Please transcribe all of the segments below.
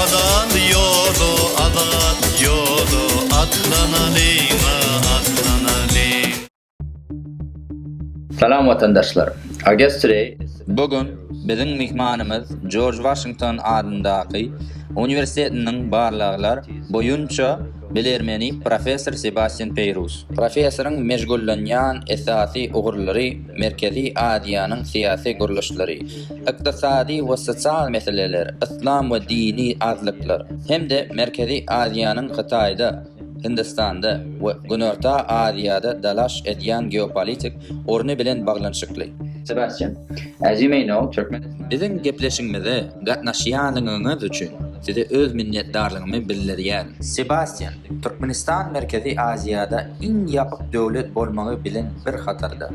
Azat ýoly, azat ýoly, atlanalyň-a, atlanalyň. Salam watandaşlar! Agest Today. Bu gün biziň myhmanymyz Jorj Waşington adyndaky uniwersitetiniň barlaglar boýunça Bilermeni professor Sebastýan Peýrus. Professoryň meşgullanýan esasy ugurlary Merkezi Aziýanyň syýasy gurluşlary, ykdysady we sosial meseleler, yslam we dini azlyklar hem-de Merkezi Aziýanyň Hytaýda, Hindistanda we Günorta Aziýada dalaş edýän geopolitik orny bilen baglanyşykly. Sebastýan, as you may know, Türkmen. Biziň gepleşigimize gatnaşýanyňyz üçin. Size öz minnetdarlygymy bildirýän. Sebastýan, Türkmenistan Merkezi Aziýada iň ýapyk döwlet bolmagy bilen bir hatarda,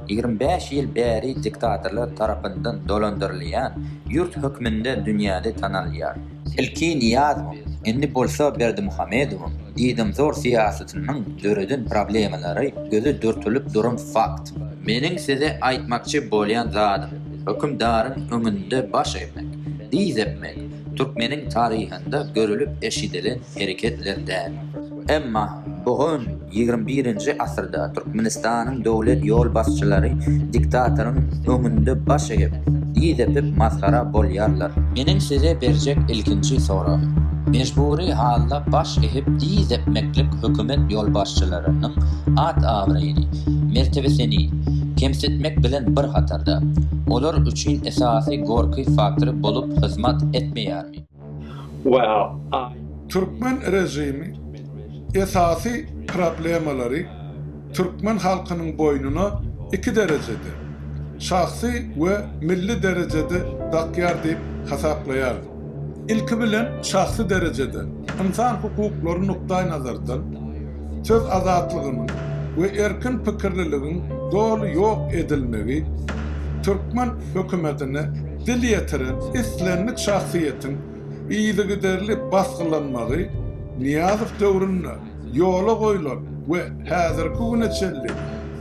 ýigrimi bäş ýyl bäri diktatorlar tarapyndan dolandyrylýan ýurt hökmünde dünýäde tanalýar. Ilki Nyýazowyň, indi bolsa Berdimuhamedowyň diýdamzor syýasatynyň döreden problemalary göze dürtülip duran fakt. Meniň size aýtmakçy bolýan zadym, hökümdaryň öňünde baş egmek, dyz epmek, türkmeniň taryhynda görülip-eşidilen hereketler däl. Emma bu gün ýigrimi birinji asyrda Türkmenistanyň döwlet ýolbaşçylary diktatoryň öňünde baş egip, yz epip masgara bolýarlar. Meniň size berjek ilkinji soragym, mejbury halda baş egip yz epmeklik hökümet ýolbaşçylarynyň at-abraýyny, mertebesini kemsitmek bilen bir hatarda, olar üçin esasy gorky faktory bolup hyzmat etmeýärmi? Well. Türkmen režimi esasy problemalary türkmen halkynyň boýnuna iki derejede, şahsy we milli derejede dakýar diýip hasaplaýaryn. Ilki bilen şahsy derejede, ynsan hukuklary nukdaýnazardan, söz azatlygynyň we erkin pikirliligiň doly ýok edilmegi türkmen hökümetine dil ýetiren islendik şahsyýetiň yzygiderli basgylanmagy Nyýazow döwründe ýola goýlan we häzirki güne çenli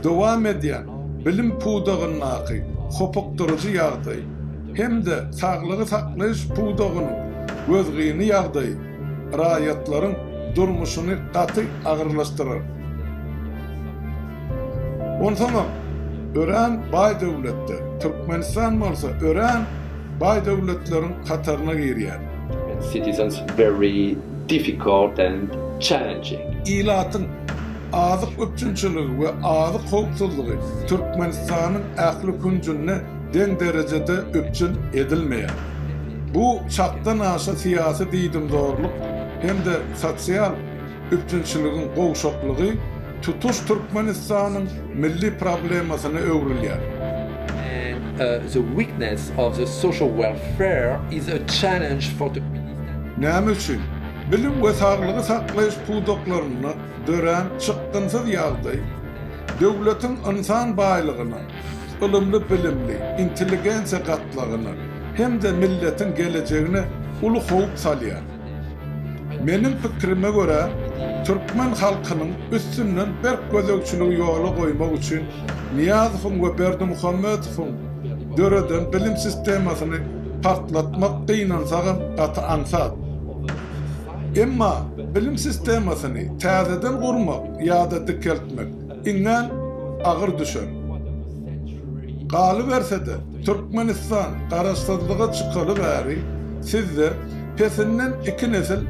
dowam edýän bilim pudagyndaky hopukdyryjy ýagdaý hem-de saglygy saklaýyş pudagynyň gözgyny ýagdaýy raýatlaryň durmuşyny gaty agyrlaşdyrar. Onsoňam, örän baý döwletde, Türkmenistan bolsa örän baý döwletleriň hataryna girýär. Citizens very difficult and challenging. Ilatyň azyk üpjünçiligi we azyk howpsuzlygy Türkmenistanyň ähli künjünde deň derejede üpjün edilmeýär. Bu çakdan aşa syýasy diýdimzorluk hem-de sosial üpjünçiligiň gowşaklygy tutuş Türkmenistanyň milli problemasyna öwrülýär. Näme üçin bilim we saglygy saklaýyş pudaklarynda dörän çykgynsyz ýagdaý döwletiň ynsan baýlygyna, ylymly-bilimli intelligensiýa gatlagyna hem-de milletiň gelejegine uly howp salýar. Meniň pikirime görä, türkmen halkynyň üstünden berk gözegçiligi ýola goýmak üçin Nyýazowyň we Berdimuhamedowyň döreden bilim sistemasyny partlatmak gynansagam gaty aňsat. Emma bilim sistemasyny täzeden gurmak ýa-da dikeltmek iňňän agyr düşer. Galyberse-de, Türkmenistan garaşsyzlyga çykaly bäri sizde pesinden iki nesil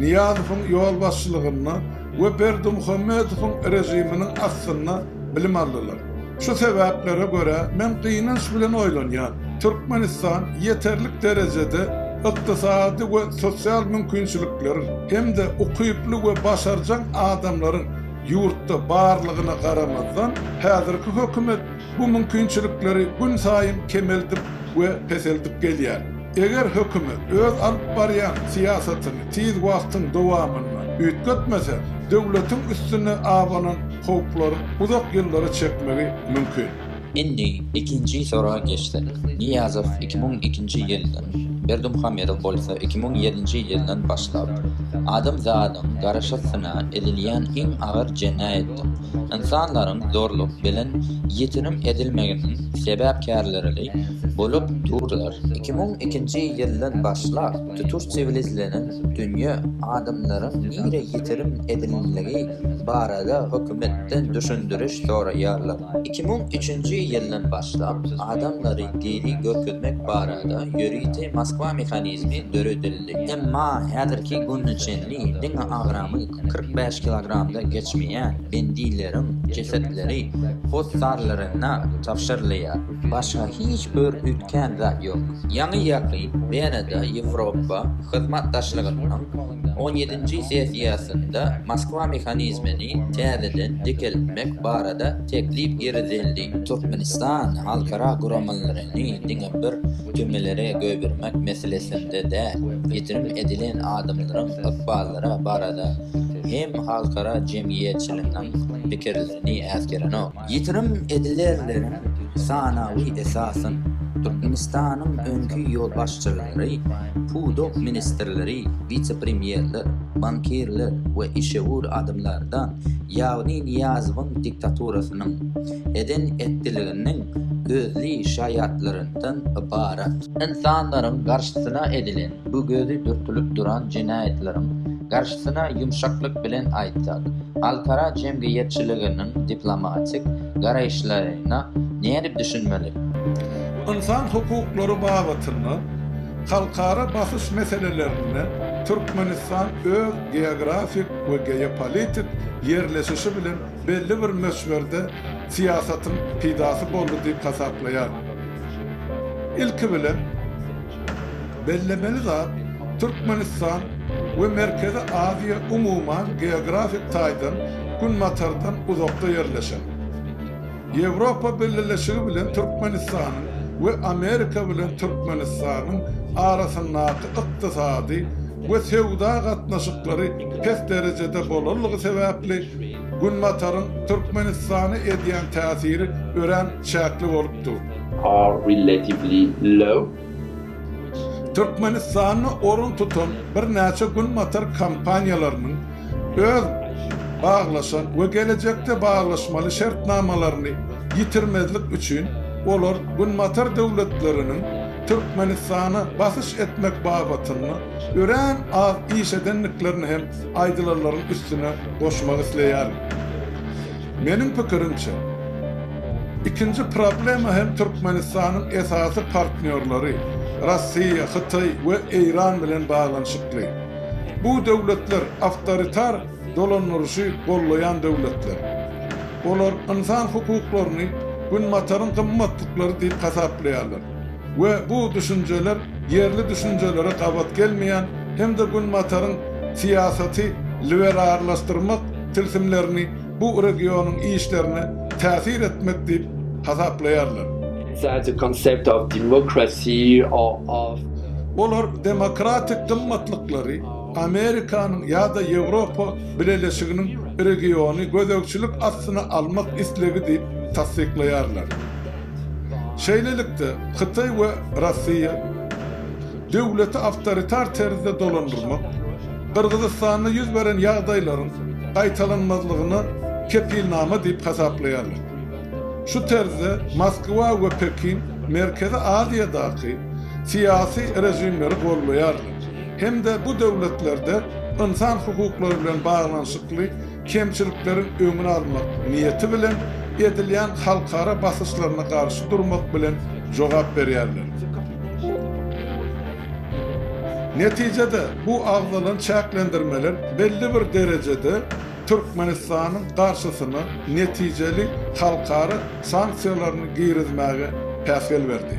Nyýazowyň ýolbaşçylygynda we Berdimuhamedowyň režiminiň astynda bilim aldylar. Şu sebäplere görä, men gynanç bilen oýlanýan, Türkmenistan ýeterlik derejede ykdysady we sosial mümkinçilikleriň hem-de ukyply we başarjaň adamlaryň Ýurtda barlygyna garamazdan, häzirki hökümet bu mümkinçilikleri günsaýyn kemeldip we peseldip gelýär. Eger hökümet öz alyp barýan syýasatyny tiz wagtyň dowamynda üýtgetmese, döwletiň üstüne abanan howplaryň uzak ýyllara çekmegi mümkin. Indi ikinji sora geçsek. Niýazow iki müň ikinji ýyldan, Berdimuhamedow bolsa iki müň ýedinji ýyldan başlap, adamzadyň garaşysyna edilýän iň agyr jenaýatdyr ynsanlaryň zorluk bilen ýitirim edilmeginiň sebäpkärlerili bolup durlar. Iki müň ikinji ýyldan başlap, tutuş siwilizlenen dünýä adamlaryň nire ýitirim edilendigi barada hökümetden düşündiriş soraýarlar. Iki müň üçünji ýyldan başlap adamlary diri görkezmek barada ýörite Moskwa mehanizmi döredildi. Emma häzirki güne çenli diňe agramy kyrk bäş kilogramdan geçmeýän bendileriň jesetleri hossarlaryna tabşyrylýar. Başga hiç bir üýtgän zat ýok. Ýaňy-ýakyn Wenada Ýewropa hyzmatdaşlygynyň On ýedinji sessiýasynda Moskwa mehanizmini täzeden dikeltmek barada teklip girizildi. Türkmenistan halkara guramalaryny diňe bir türmelere goýbermek meselesinde däl, ýitirim edilen adamlaryň ykballary barada hem halkara jemgyýetçiliginiň pikirlerini äsgerenok. Ýitirim edilerleriň sanawy esasan, Türkmenistanyň öňki ýolbaşçylary, pudak ministrleri, wise-premýerler, bankirler we işewür adamlardan, ýagny Nyýazowyň diktaturasynyň, eden-etdiliginiň gözli şaýatlaryndan ybarat. Ynsanlaryň garşysyna edilen Bu gözi dürtülip duran jenaýatlaryň garşysyna ýumşaklyk bilen aýtsak, halkara jemgyýetçiliginiň diplomatik garaýyşlaryna nädip düşünmeli? Ynsan hukuklary babatynda halkara basyş meselelerinde Türkmenistan öz geografik we geopolitik ýerleşişi bilen belli bir möçberde syýasatyň pidasy boldy diýip hasaplaýar. Ilki bilen, Bellemeli zat, Türkmenistan we Merkezi Aziýa umuman geografik taýdan Günbatardan uzakda ýerleşen. Ýewropa Bileleşigi bilen Türkmenistanyň we Amerika bilen Türkmenistanyň arasyndaky ykdysady we söwda gatnaşyklary pes derejede bolanlygy sebäpli Günbataryň Türkmenistana edýän täsiri örän çäkli bolup dur. are relatively low. Türkmenistanda orun tutan birnäçe günbatar kompaniýalarynyň öz baglaşan we gelejekde baglaşmaly şertnamalaryny ýitirmezlik üçin olar günbatar döwletleriniň Türkmenistana basyş etmek babatynda örän az iş edendiklerini hem aýdylanlaryň üstüne goşmak isleýärin. Meniň pikirimçe, ikinji problema hem Türkmenistanyň esasy partnýorlary, Russiýa, Hytaý we Eýran bilen baglanyşykly. Bu döwletler awtoritar dolandyryşy gollaýan döwletler. Olar ynsan hukuklaryny Günbataryň gymmatlyklary diýip hasaplaýarlar. we bu düşünjeler ýerli düşünjelere gabat gelmeýän hem-de Günbataryň syýasaty liberarlaşdyrmak tilsimlerini bu regionyň işlerine täsir etmek diýip hasaplaýarlar. Olar demokratik gymmatlyklary Amerikanyň ýa-da Ýewropa Bileleşiginiň regiony gözegçilik astyna almak islegi diýip tassyklaýarlar. Şeýlelikde, Hytaý we Russiýa döwleti awtoritar terzde dolandyrmak, Gyrgyzystanda ýüz beren ýagdaýlaryň gaýtalanmazlygyna kepilnama diýip hasaplaýarlar. Şu terzde Moskwa we Pekin Merkezi Aziýadaky syýasy režimleri goldaýarlar hem-de bu döwletlerde ynsan hukuklary bilen baglanyşykly kemçilikleriň öňüni almak niýeti bilen edilýän halkara basyşlaryna garşy durmak bilen jogap berýärler. Netijede, bu agzalan çäklendirmeler belli bir derejede Türkmenistanyň garşysyna netijeli halkara sanksiýalaryny girizmäge päsgel berdi.